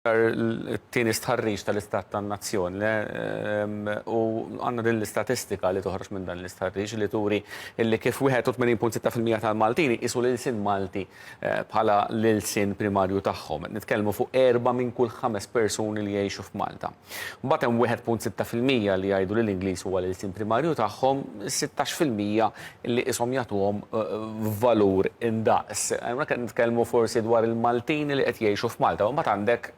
Sar it-tieni stħarriġ tal-istat tan-nazzjon u għandna din l-istatistika li toħroġ minn dan l-istħarriġ li turi li kif 81.6 fil-mija tal-Maltin iqisu l-ilsien Malti bħala l-ilsien primarju tagħhom. Qed nitkellmu fuq erbgħa minn kull ħames persuni li jgħixu f'Malta. Mbagħad hemm 1.6 fil-mija li jgħidu li l-Ingliż huwa l-ilsien primarju tagħhom, 16 fil-mija li qishom jagħtuhom valur indaqs. Hawnhekk qed nitkellmu forsi dwar il-Maltin li qed jgħixu f'Malta, u mbagħad għandek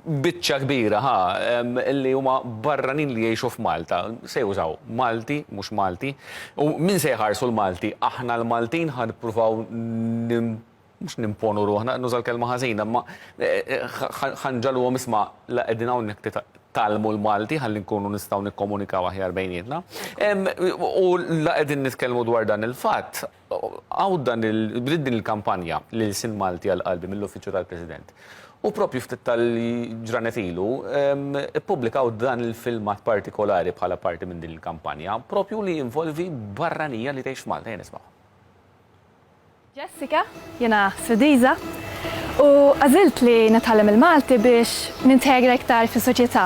biċċa kbira ħa li huma barranin li jgħixu f'Malta, se jużaw Malti, mhux Malti, u min se jħarsu l-Malti? Aħna l-Maltin ħa nippruvaw mhux nimponu ruħna, nuża l-kelma ħażina, imma ħa nġagħluhom isma' la qegħdin hawnhekk titgħallmu l-Malti ħalli nkunu nistgħu nikkomunikaw aħjar bejnietna. U la qegħdin nitkellmu dwar dan il-fatt, hawn dan il, bdiet din il-kampanja li lsien Malti għal qalbi mill-Uffiċċju tal-President. U proprju ftit tal-ġranet ilu ippubblikaw dan il-filmat partikolari bħala parti minn din il-kampanja, proprju li jinvolvi barranija li tgħix f'Malta. Ejja nismgħu. Jessica, jiena Swidiża u għażilt li nitgħallem il-Malti biex nintegra iktar fis-soċjetà.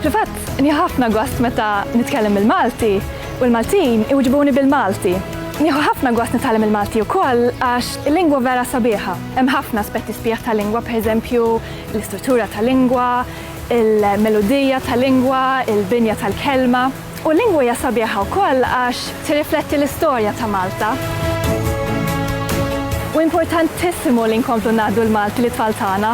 Fil-fatt, nieħu ħafna gost meta nitkellem bil-Malti u l-Maltin iwiġbuni bil-Malti. Nieħu ħafna gost nitgħallem il-Malti wkoll għax il-lingwa vera sabiħa. Hemm ħafna aspetti sbieħ tal-lingwa, pereżempju, l-istruttura tal-lingwa, il-meludija tal-lingwa, il-binja tal-kelma. U l-lingwa hija sabiħa wkoll għax tirrifletti l-istorja ta' Malta. U importantissimu li nkomplu ngħaddu l-Malti lit-tfal tagħna.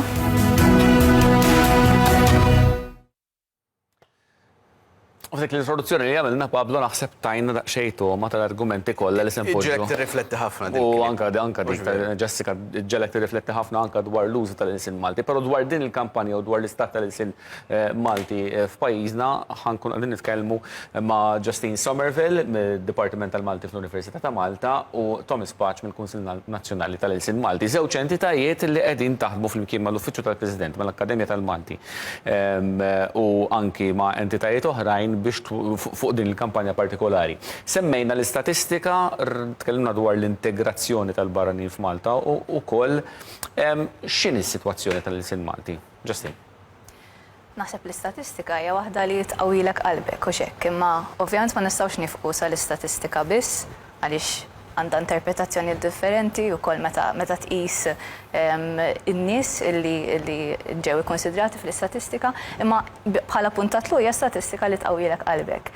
U f'dik l-introduzzjoni li għamilna Pablo naħseb tajna daqsxejn togħma tal-argumenti kollha li se npoġġu. Ġelek tirrifletti ħafna dik. U anka anka dik Jessica ġelek tirrifletti ħafna anka dwar l-użu tal-ilsien Malti, però dwar din il-kampanja u dwar l-istat tal-ilsien Malti f'pajjiżna, ħa nkunu qegħdin nitkellmu ma' Justine Somerville mid-Dipartiment tal-Malti fl-Università ta' Malta u Thomas Paċ mill-Kunsill Nazzjonali tal-Ilsien Malti, żewġ entitajiet li qegħdin taħdmu flimkien mal-Uffiċċju tal-President, mal-Akkademja tal-Malti u anki ma' entitajiet oħrajn biex fuq din il-kampanja partikolari. Semmejna l-istatistika, tkellimna dwar l-integrazzjoni tal-barranin f'Malta u wkoll x'inhi s-sitwazzjoni tal-ilsien Malti? Justin. Naħseb l-istatistika hija waħda li tqawwilek qalbek, hux hekk? Imma ovvjament ma nistgħux niefqu sal-istatistika biss għaliex għandha interpretazzjoni differenti wkoll meta meta tqis in-nies li li ġew ikkunsidrati fl-istatistika, imma bħala punt ta' tluq hija statistika li tqawwilek qalbek.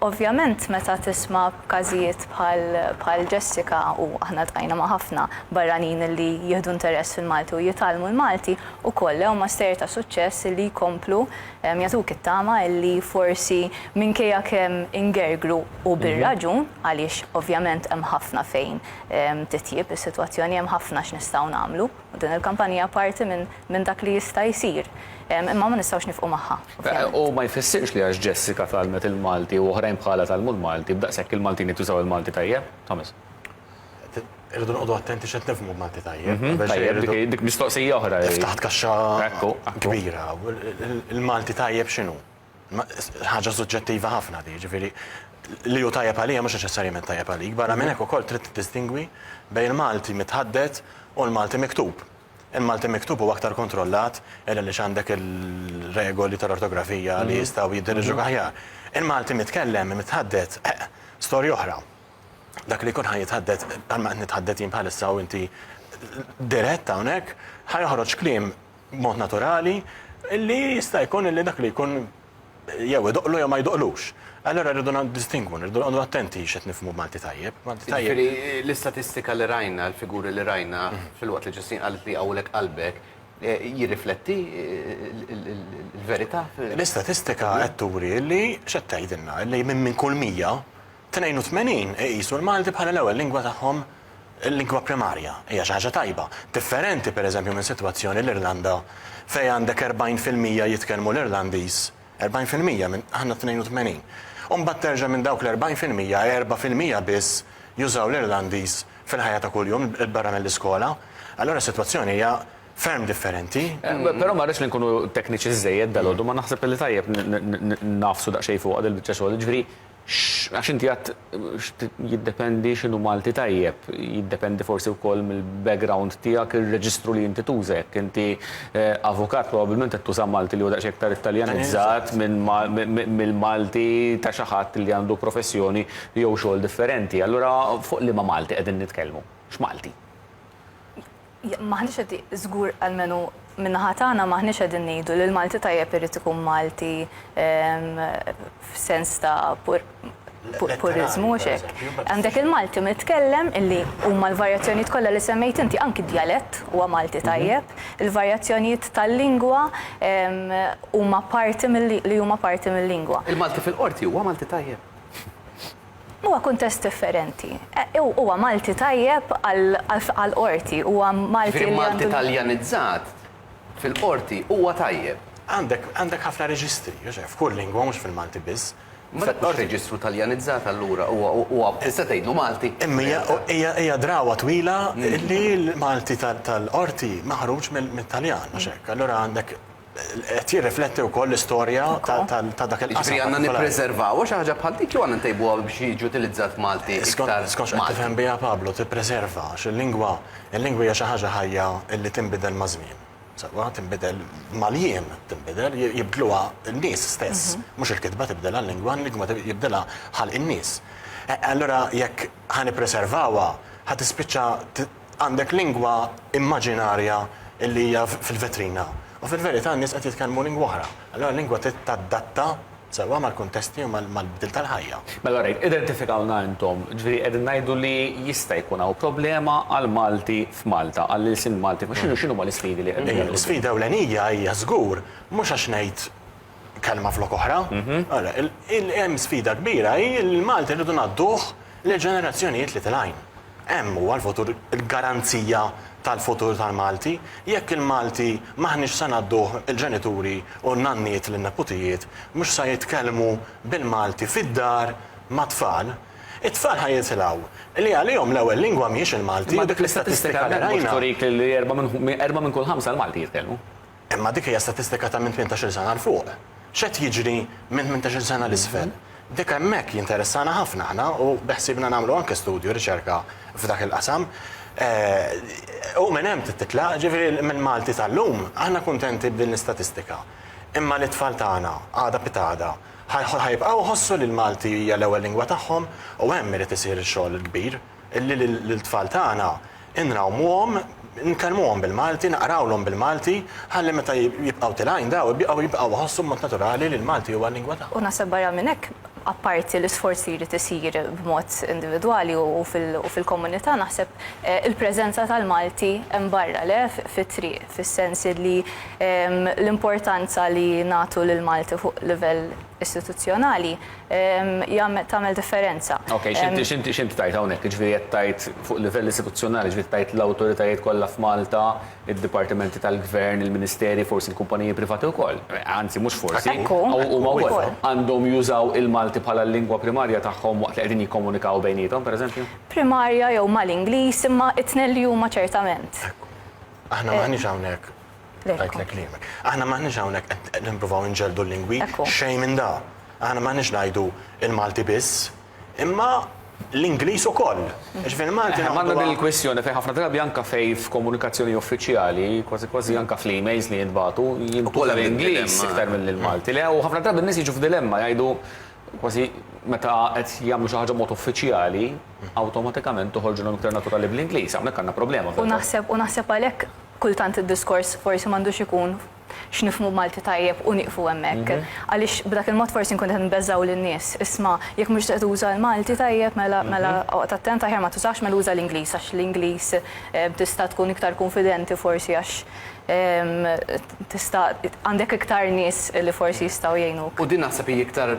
Ovvjament meta tisma' b'każijiet bħal Jessica, u aħna ltqajna ma' ħafna barranin li jieħdu interess fil-Malti u jitgħallmu l-Malti, ukoll huma stejjer ta' suċċess li jkomplu jagħtuk it-tama li forsi minkejja kemm ingergru u bir-raġun, għaliex ovvjament hemm ħafna fejn titjieb is-sitwazzjoni, hemm ħafna x'nistgħu nagħmlu. Din il-kampanja hija parti minn dak li jista' jsir, imma ma nistgħux nifqu magħha, ovvjament. U ma jfissirx li għax Jessica tgħallmet il-Malti u oħrajn bħalha tgħallmu l-Malti, b'daqshekk il-Maltin qed jużaw il-Malti tajjeb, Thomas. Irridu noqogħdu attenti x'qed nifhmu b'Malti tajjeb. Tajjeb, dik mistoqsija oħra. Ftaħt kaxxa kbira. Il-Malti tajjeb x'inhu? ħaġa suġġettiva ħafna di, ġifieri li hu tajjeb għalija mhux neċessarjament tajjeb għalik. Barra minn hekk ukoll trid tiddistingwi bejn il-Malti mitħaddet u l-Malti miktub. Il-Malti miktub huwa aktar kontrollat illa li x'għandek il-regoli tal-ortografija li jistgħu jiddirġuk aħjar. Il-Malti mitkellem mitħaddet storja oħra. Dak li jkun ħa jitħaddet, bħalma qed nitħaddet jien bħalissa u inti dirett hawnhekk, ħa joħroġ kliem b'mod naturali, li jista' jkun li dak li jkun jew idoqqlu jew ma jdoqqlux. Allura rridu niddistingwu, rridu noqogħdu attenti x'qed nifhmu b'Malti tajjeb. Jiġifieri l-istatistika li rajna, l-figuri li rajna, filwaqt li Ġustin qalet li jqawwilek qalbek, jirrifletti l-verità? L-istatistika qed turi li x'qed tgħidilna? Li minn kull 100, 82 iqisu l-Malti bħala l-ewwel lingwa tagħhom lingwa primarja. Hija xi ħaġa tajba. Differenti, per eżempju, minn sitwazzjoni l-Irlanda fejn għandek 40 fil-mija jitkellmu l-Irlandiż, 40 fil-mija minn aħna 82. U mbagħad terġa' minn dawk l-40 fil-mija, erbgħa fil-mija biss jużaw l-Irlandiż fil-ħajja ta' kuljum barra mill-iskola. Allura s-sitwazzjoni hija ferm differenti. Però ma rridx li nkunu tekniċi żżejjed dalgħodu, ma naħseb li tajjeb nagħfsu daqsxejn fuqha dil-biċċa xogħol. Jiġifieri, Għax inti għedt jiddependi x'inhu Malti tajjeb, jiddependi forsi wkoll mill-background tiegħek, ir-reġistru li inti tuża. Jekk inti avukat probabbilment qed tuża Malti li huwa daqsxejn iktar Italjanizzat mill-Malti ta' xi ħadd li għandu professjoni jew xogħol differenti. Allura fuq liema Malti qegħdin nitkellmu? X'Malti? M'aħniex qed, żgur almenu min-naħa tagħna m'aħniex qegħdin ngħidu li l-Malti tajjeb irid ikun Malti f'sens ta' puriżmu, mhux hekk. Għandek il-Malti mitkellem illi huma l-varjazzjonijiet kollha li semmejt inti, anki d-djalett huwa Malti tajjeb, il-varjazzjonijiet tal-lingwa huma parti li huma parti mil-lingwa. Il-Malti fil-Qorti huwa Malti tajjeb. Huwa kuntest differenti. Huwa Malti tajjeb għall-Qorti, huwa Malti li għandu. Jiġifieri Malti Taljanizzat fil-Qorti huwa tajjeb. Għandek, għandek ħafna reġistri, Joxe, f'kull lingwa mhux fil-Malti biss. Ma dak mhux reġistru Taljanizzat allura, huwa, huwa, tista' tgħidlu Malti. Imma hija, hija, hija drawwa twila li l-Malti tal-Qorti maħruġ mit-Taljan, mhux hekk? Allura għandek qed jirrifletti wkoll l-istorja ta' dak il-qasam. Ġifieri għandna nippreservaw xi ħaġa bħal dik jew għandna ntejbuha biex jiġi utilizzat Malti iktar. Skont x'qed tifhem biha Pablo tippreserva għax il-lingwa, il-lingwa hija xi ħaġa ħajja li tinbidel maż-żmien. Sewwa, tinbidel mal-jiem tinbidel, jibdluha n-nies stess. Mhux il-kitba tibdilha l-lingwa, l-lingwa jibdilha ħalq in-nies. Allura jekk ħa nippreservawha, ħa tispiċċa Għandek lingwa immaġinarja li hija fil-vetrina u fil-verità n-nies qed jitkellmu lingwa oħra. Allura l-lingwa trid tadatta sewwa mal-kuntesti u mal-bdil tal-ħajja. Mela orajt, identifikawna intom. Ġifieri qegħdin ngħidu li jista' jkun hawn problema għall-Malti f'Malta, għall-ilsien Malti. Ma x'inhu, x'inhuma l-isfidi li qegħdin naraw? L-isfida ewlenija hija żgur mhux għax ngħid kelma flok oħra. Ara, hemm sfida kbira hi li l-Malti rridu ngħadduh lill-ġenerazzjonijiet li tilgħin. Hemm huwa l-futur, il-garanzija tal-futur tal-Malti. Jekk il-Malti m'aħniex se ngħadduh il-ġenituri u n-nanniet lin-neputijiet, mhux se jitkellmu bil-Malti fid-dar mat-tfal, it-tfal ħa jitilgħu li għalihom l-ewwel lingwa mhijiex il-Malti u dik l-istatistika li rajna. Imma dik l-istatistika hemmhekk mhux turik li erba' minn kull ħamsa l-Malti jitkellmu? Imma dik hija statistika ta' minn tmintax-il sena 'l fuq. X'qed jiġri minn tmintax-il sena 'l isfel? Dik hemmhekk jinteressana ħafna aħna u beħsiebna nagħmlu anke studju, riċerka f'dak il-qasam. U minn hemm trid titlaq, jiġifieri mill-Malti tal-lum aħna kuntenti b'din l-istatistika. Imma lit-tfal tagħna, għada pitgħada, ħa jibqgħu jħossu li l-Malti hija l-ewwel lingwa tagħhom u hemm irid isir ix-xogħol il-kbir. Li lill-tfal tagħna inrawmuhom, inkellmuhom bil-Malti, naqrawlhom bil-Malti, ħalli meta jibqgħu tilgħin daw ibqgħu jibqgħu jħossu b'mod naturali li l-Malti huwa l-lingwa tagħhom. U naħseb barra minn hekk, apparti l-isforz li jrid isir b'mod individwali u fil-komunità, naħseb il-preżenza tal-Malti hemm barra, le, fit-triq, fis-sens li l-importanza li nagħtu lill-Malti fuq livell istituzzjonali jagħmel tagħmel differenza. Okej, x'inti x'inti x'inti tgħid hawnhekk? Jiġifieri qed tgħid fuq livell istituzzjonali, jiġifieri tgħid l-awtoritajiet kollha f'Malta, id-dipartimenti tal-gvern, il-ministeri, forsi l-kumpaniji privati wkoll, anzi mhux forsi, huma wkoll, għandhom jużaw il-Malti bħala l-lingwa primarja tagħhom waqt li qegħdin jikkomunikaw bejniethom, pereżempju? Primarja jew mal-Ingliż, imma t-tnejn li huma ċertament. Aħna m'aħniex hawnhekk. Għajtlek kliemek. Aħna maħniġ hawnhekk qed nippruvaw inġeldu l-lingwi xejn minn da. Aħna maħniġ ngħidu il-Malti biss, imma l-Ingliż ukoll. Ġifieri Malti. Għandna din il-kwistjoni fejn ħafna drabi anke fejn f'komunikazzjoni uffiċjali, kważi kważi anke fl-emails li jintbagħtu, jintuża l-Ingliż iktar milli l-Malti. Le u ħafna drabi n-nies jiġu f'dilemma jgħidu kważi meta qed jagħmlu xi ħaġa b'mod uffiċjali, awtomatikament toħorġilhom iktar naturali bl-Ingliż. Hawnhekk għandna problema. U naħseb u naħseb għalhekk Kultant id-diskors forsi m'għandux ikun x'nifhmu b'Malti tajjeb u nieqfu hemmhekk. Għaliex b'dak il-mod forsi nkunu qed inbeżżgħu lin-nies. Isma', jekk mhux se tuża l-Malti tajjeb mela mela oqgħod attent aħjar ma tużahx mela uża l-Ingliż għax l-Ingliż tista' tkun iktar kunfidenti forsi għax tista' għandek iktar nies li forsi jistgħu jgħinuk. U din naħseb hi iktar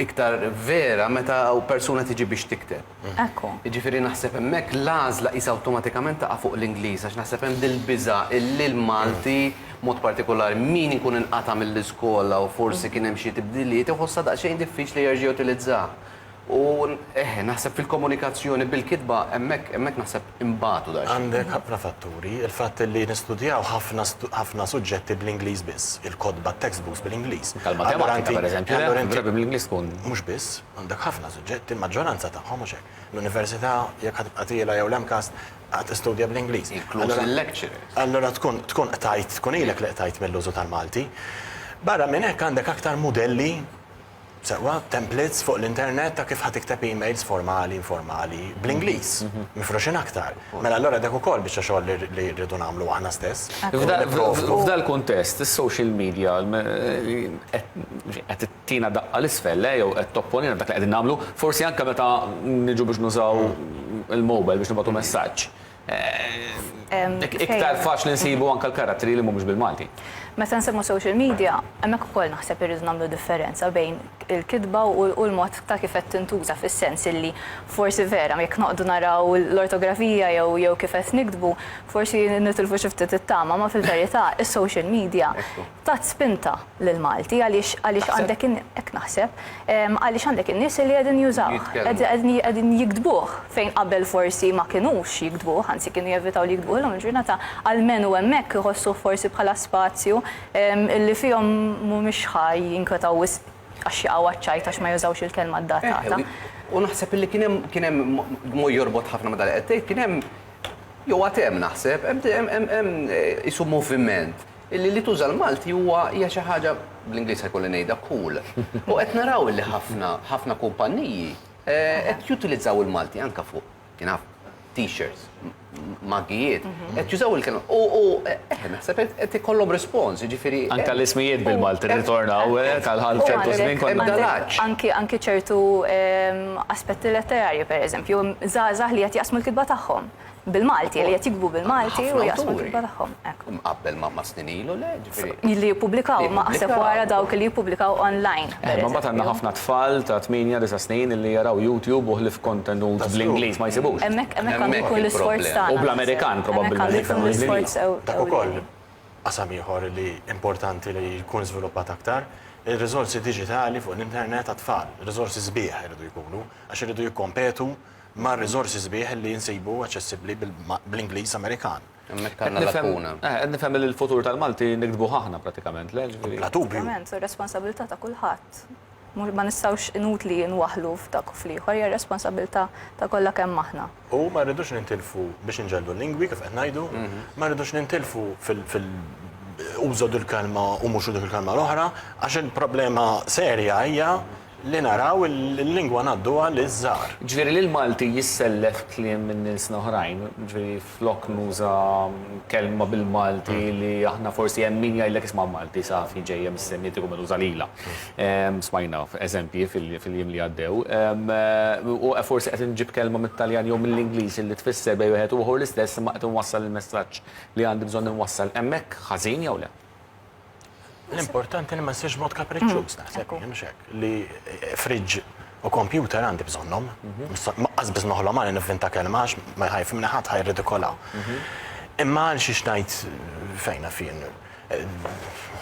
iktar vera meta persuna tiġi biex tikteb. Ekku. Jiġifieri naħseb hemmhekk l-għażla qisha awtomatikament taqa' fuq l-Ingliż għax naħseb hemm dil-biża' illi l-Malti, b'mod partikolari min ikun inqata' mill-iskola u forsi kien hemm xi tibdiliet iħossha daqsxejn diffiċli jerġa' jutilizzaha. U eħe, naħseb fil-komunikazzjoni bil-kitba hemmhekk hemmhekk naħseb inbatu daqsxejn. Għandek ħafna fatturi, il-fatt illi nistudjaw ħafna ħafna suġġetti bl-Ingliż biss, il-kotba, t-textbooks bil-Ingliż. Anke l-matematika pereżempju, le, allura inti bl-Ingliż tkun. Mhux biss. Għandek ħafna suġġetti, l-maġġoranza tagħhom, mhux hekk? L-università, jekk ħa tibqa' tiela' jew l-MCAST, ħa tistudja bl-Ingliż. Inkluż il-lecturers. Allura tkun tkun qtajt, tkun ilek li qtajt mill-użu tal-Malti. Barra minn hekk għandek aktar mudelli, sewwa, templates fuq l-internet ta' kif ħa tikteb emails formali, informali, bl-Ingliż, mifruxin aktar. Mela allura dak ukoll biċċa xogħol li li rridu nagħmlu aħna stess. F'dal-kuntest, is-social media qed qed Tina daqqa 'l isfel, le, jew qed topponina f'dak li qegħdin nagħmlu, forsi anke meta niġu biex nużaw il-mobile biex nibgħatu messaġġ. Iktar faċli nsibu anke l-karattri li mhumiex bil-Malti. Meta nsemmu social media, hemmhekk ukoll naħseb irridu nagħmlu differenza bejn il-kitba u l-mod ta' kif qed tintuża fis-sens illi forsi vera jekk noqgħdu naraw l-ortografija jew kif qed niktbu, forsi nitilfu xi ftit it-tama, imma fil-verità is-social media tat spinta lil Malti għaliex għaliex għandek in hekk naħseb għaliex għandek in-nies li qegħdin jużawh, qegħdin jiktbuh fejn qabel forsi ma kinux jiktbuh, anzi kienu jevitaw li jiktbuh, illum il-ġurnata almenu hemmhekk iħossuh forsi bħala spazju li fihom mhumiex ħa jinkwetaw wisq għax jaqgħu għaċ-ċajt għax ma jużawx il-kelma ddatata. U naħseb illi kien hemm kien hemm b'mod jorbot ħafna ma' dak li qed tgħid kien hemm jew għad hemm naħseb hemm hemm hemm qisu moviment Illi li tuża l-Malti huwa, hija xi ħaġa, bl-Ingliż se jkolli ngħidha, cool. U qed naraw illi ħafna, ħafna kumpanniji qed jutilizzaw il-Malti anke fuq, you know, t-shirts, maggijiet, qed jużaw il-kelma. U, u, eh, naħseb qed, qed ikollhom rispons, jiġifieri. Anke l-ismijiet bil-Malti rritornaw, eh, tal-ħal ċertu żmien kont dalaġġ. Anke, anke ċertu aspetti letterarji, pereżempju, żgħażagħ li qed jaqsmu l-kitba tagħhom. bil-Malti, li qed jikbu bil-Malti u jaqsmu l-kitba tagħhom. Mqabbel ma' snin ilu le, ġifieri. Li jippubblikaw ma' aħseb wara dawk li jippubblikaw online. Imma mbagħad għandna ħafna tfal ta' tmienja, disa' snin illi jaraw YouTube u ħlief kontenut bl-Ingliż ma jsibux. Hemmhekk għandu jkun l-isforz tagħna. U bl-Amerikan probabbilment. Hemmhekk għandu jkun l-isforz ewlieni. Dak ukoll qasam ieħor li importanti li jkun żviluppat aktar, ir-riżorsi diġitali fuq l-internet għat-tfal. Riżorsi sbieħ iridu jkunu għax iridu jikkompetu mar-riżorsi sbieħ li nsibu aċċessibbli bl-Ingliż Amerikan. Hemmhekk għandna lakuna. Eh, qed nifhem li l-futur tal-Malti nikdbuh aħna pratikament, le? Bla dubju. Ovvjament, ir-responsabilità ta' kulħadd. Ma nistgħux inutli nwaħlu f'dak u fl-ieħor, hija responsabilità ta' kollha kemm aħna. U ma rridux nintilfu biex inġellu l-lingwi kif qed ngħidu, mhm. ma rridux nintilfu fil użod il-kelma u mhux użod il-kelma l-oħra, għax il-problema serja hija Li naraw il-lingwa ngħadduha liż-żgħar. Jiġifieri li l-Malti jissellef kliem minn ilsna oħrajn, jiġifieri flok nuża kelma bil-Malti li aħna forsi hemm min jgħidlek isma' Malti safi ġejja mis-Semitiku mela uża lilha. Smajna eżempji fil-jiem li għaddew. U forsi qed inġib kelma mit-Taljan jew mill-Ingliż li tfisser bejn wieħed u ieħor l-istess imma qed inwassal il-messaġġ li għandi bżonn inwassal hemmhekk ħażin jew le? L-importanti li ma ssirx mod kapriċċuż mm. naħseb jien mhux hekk li eh, fridġ u kompjuter għandi bżonnhom. Mhm. Maqqas biss noħlom għal nivvinta kelma għax ma jħajf minn ħadd ħajr ridikola. Mhm. Imma għal xi xnajt eh, fejna fin. Eh,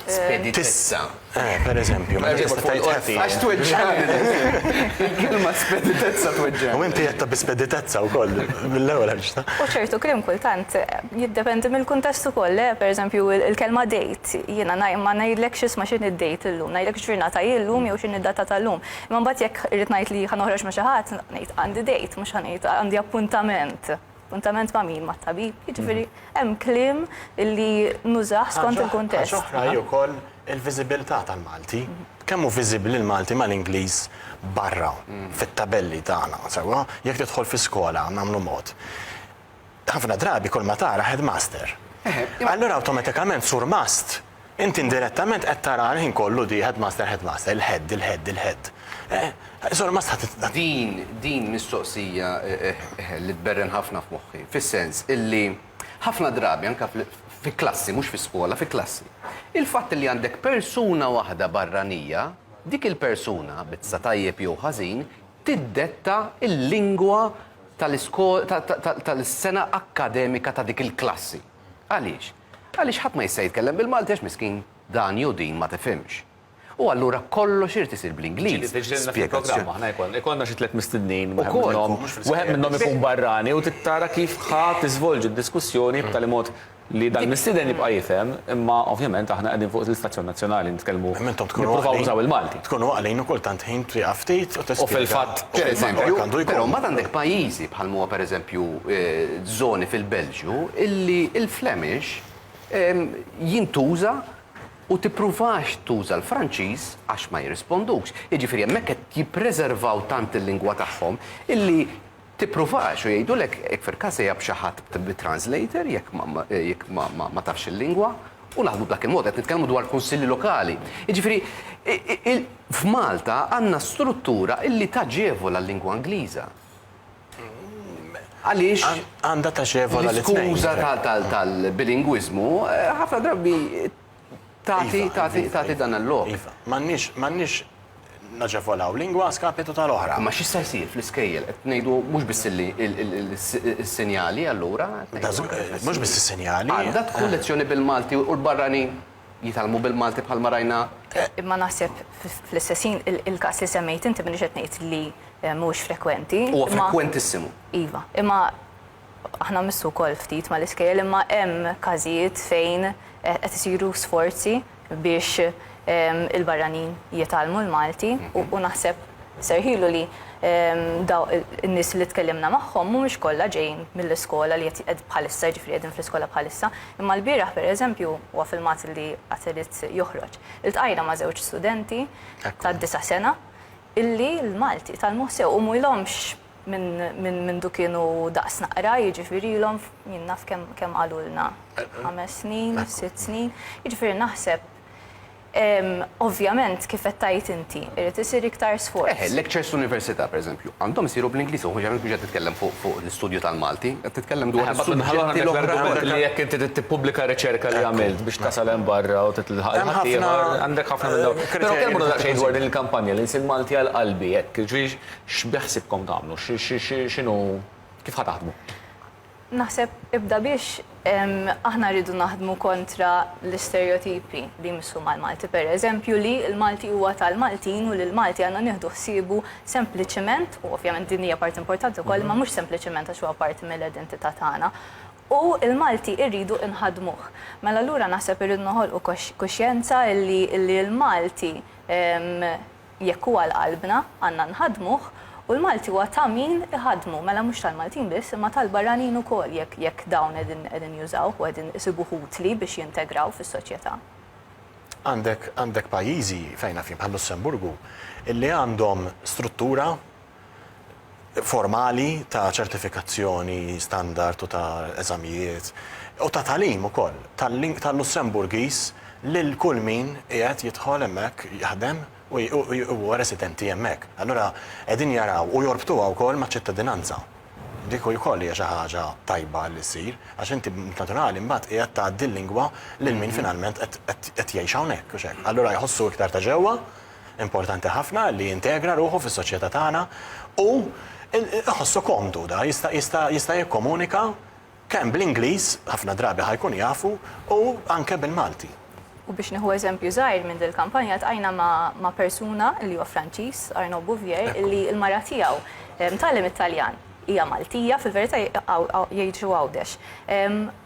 Spedi tissa. Per eżempju, ma tista' tgħid ħafi. Għax tweġġani. Kelma speditezza tweġġani. U inti jetta bi speditezza wkoll mill-ewwel ħarġta. U ċertu krim kultant Jiddependi mill-kuntest ukoll, le? Pereżempju, il-kelma date, jiena ma ngħidlekx isma' x'inhi d-date illum, ngħidlek x'ġurnata hi llum jew x'inhi d-data ta' llum. Imma mbagħad jekk irrid ngħid li ħa noħroġ ma' xi ħadd, ngħid għandi date, mhux ħa ngħid għandi appuntament. Appuntament ma' min? Mat-tabib. Jiġifieri hemm kliem li nużah skont il-kuntest. Ħaġa oħra hi wkoll il-viżibilità tal-Malti. Kemm hu viżibbli l-Malti mal-Ingliż barra fit-tabelli tagħna, sewwa? Jekk tidħol fi skola, nagħmlu mod, Ħafna drabi kull ma tara headmaster. Allura awtomatikament sur mast, inti indirettament qed tara l-ħin kollu di headmaster headmaster, il-head, il-head, il-head. Sur mast ħa titla'. Din, din mistoqsija li tberren ħafna f'moħħi, fis-sens illi ħafna drabi anke fi klassi, mhux fi skola, fi klassi, il-fatt li għandek persuna waħda barranija, dik il-persuna, bit-sa tajjeb jew ħażin, tiddetta l-lingwa tal-sena akkademika ta' dik il-klassi. Għaliex? Għaliex ħadd ma jista' jitkellem bil-Malti għax miskin dan jew din ma tifhimx. U allura kollox irid isir bl-Ingliż. Ikollna xi tliet mistednin, wieħed minnhom ikun barrani u trid tara kif ħa tiżvolġi d-diskussjoni b'tali mod li dal-mistieden jibqa' jifhem, imma ovvjament aħna qegħdin fuq l-istazzjon nazzjonali nitkellmu nippruvaw nużaw il-Malti. Tkunu għaqlin u kultant ħin twieqaf ftit u tispjega. U fil-fatt, pereżempju, però mbagħad għandek pajjiżi bħal m'huwa pereżempju żoni fil-Belġju illi l-Flemish jintuża u tippruvax tuża l-Franċiż għax ma jirrispondux. Jiġifieri hemmhekk qed jippreservaw tant il-lingwa tagħhom illi Tippruvax u jgħidulek jekk fil-każ sejjaħ b'xi ħadd b'translator jekk jekk ma ma ma tafx il-lingwa u naħdmu b'dak il-mod. Qed nitkellmu dwar kunsilli lokali. Jiġifieri il f'Malta għandna struttura illi taġevola l-lingwa Ingliża. Għaliex Għandha taġevola lit-tnejn. l-iskuża tal tal tal-bilingwiżmu ħafna drabi tagħti tagħti tagħti dan il-lok. Iva, m'għandniex m'għandniex naġevolaw lingwa a skapitu tal-oħra. Imma x'issa jsir fl-iskejjel? Qed ngħidu mhux biss li s-sinjali allura. Mhux biss is-sinjali. Għandha tkun lezzjoni bil-Malti u l-barranin jitgħallmu bil-Malti bħalma rajna. Imma naħseb fl-istess ħin il-każ li semmejt inti m'iniex qed ngħid li mhuwiex frekwenti. Huwa frekwentissimu. Iva, imma Aħna mmissu wkoll ftit mal-iskejjel imma hemm każijiet fejn qed isiru sforzi biex il-barranin jitgħallmu l-Malti u naħseb serħilu li dawk in-nies li tkellimna magħhom mhumiex kollha ġejjin mill-iskola li qed bħalissa jiġifieri qegħdin fl-iskola bħalissa imma lbieraħ pereżempju huwa filmat li għad irid joħroġ iltqajna ma' żewġ studenti ta' disa' sena illi l-Malti tgħallmuh sew u mhilhomx mindu kienu daqs naqra, jiġifirilhom, jien naf kemm qalulna, ħames snin, sitt snin, jiġifieri naħseb ovvjament kif qed tgħid inti, irid isir iktar sforz. Eħe, lectures fl-università, pereżempju, għandhom isiru bl-Ingliż, u ovvjament mhux qed titkellem fuq l-istudju tal-Malti, qed titkellem dwar is-suġġetti l-oħra. Li jekk inti trid tippubblika r-riċerka li għamilt biex tasal hemm barra u tilħaq il-ħaddieħor, għandek ħafna minn dawn. Però kellimna daqsxejn dwar din il-kampanja li nsir Malti għal qalbi, hekk. X'beħsiebkom tagħmlu? X'inhu, kif ħa taħdmu? Naħseb ibda biex aħna rridu naħdmu kontra l-isterjotipi li jmissu mal-Malti. Per eżempju li l-Malti huwa tal-Maltin u li l-Malti għandna nieħdu ħsiebu sempliċement, u ovvjament din hija parti importanti wkoll, imma mhux sempliċement għax huwa parti mill-identità tagħna, u l-Malti rridu nħaddmuh. Mela allura naħseb irridu noħolqu kuxjenza illi l-Malti, Jekk hu għal qalbna, għandna nħaddmuh u l-Malti huwa ta' min iħaddmu, mela mhux tal-Maltin biss imma tal-barranin ukoll jekk jekk dawn qegħdin qegħdin jużawh u qegħdin isibuh utli biex jintegraw fis-soċjetà. Għandek għandek pajjiżi, fejn naf jien, bħal-Lussemburgu, illi għandhom struttura, formali ta' ċertifikazzjoni standard u ta' eżamijiet u ta' tagħlim ukoll tal-Lussemburgiż lil kull min qiegħed jidħol hemmhekk jaħdem u huwa residenti hemmhekk. Allura qegħdin jaraw u jorbtuha wkoll maċ-ċittadinanza. Dik ukoll hija xi ħaġa tajba li ssir għax inti b'mod naturali mbagħad qiegħed tgħaddi l-lingwa lil min finalment qed jgħix hawnhekk, hux hekk? Allura jħossu iktar ta' ġewwa. importanti ħafna li jintegra ruħu fis-soċjetà tagħna u jħossu komdu da jista' jista' jista' jikkomunika kemm bl-Ingliż, ħafna drabi ħa jkun jafu, u anke bil-Malti. U biex nieħu eżempju żgħir minn dil-kampanja ltqajna ma' ma' persuna li huwa Franċiż, Arnaud Bouvier, li l-mara tiegħu mtgħallem it-Taljan, hija Maltija, fil-verità jgħixu Għawdex.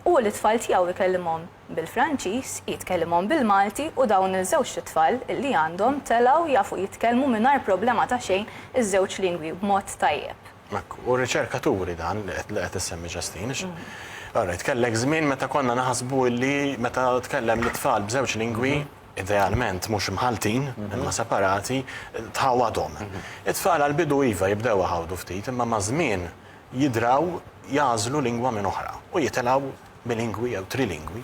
Hu lit-tfal tiegħu jkellimhom bil-Franċiż, jitkellimhom bil-Malti u dawn il-żewġt itfal li għandhom telgħu jafu jitkellmu mingħajr problema ta' xejn iż-żewġ lingwi b'mod tajjeb. Hekk, u r-riċerka turi dan li qed li qed issemmi Ġastin. All right, kellek żmien meta konna naħsbu li meta tkellem lit-tfal b'żewġ lingwi, idealment mhux imħalltin, imma separati, tħawwadhom. It-tfal għall-bidu iva jibdew iħawdu ftit imma maż-żmien jidraw jagħżlu lingwa minn oħra u jitilgħu bilingwi jew trilingwi.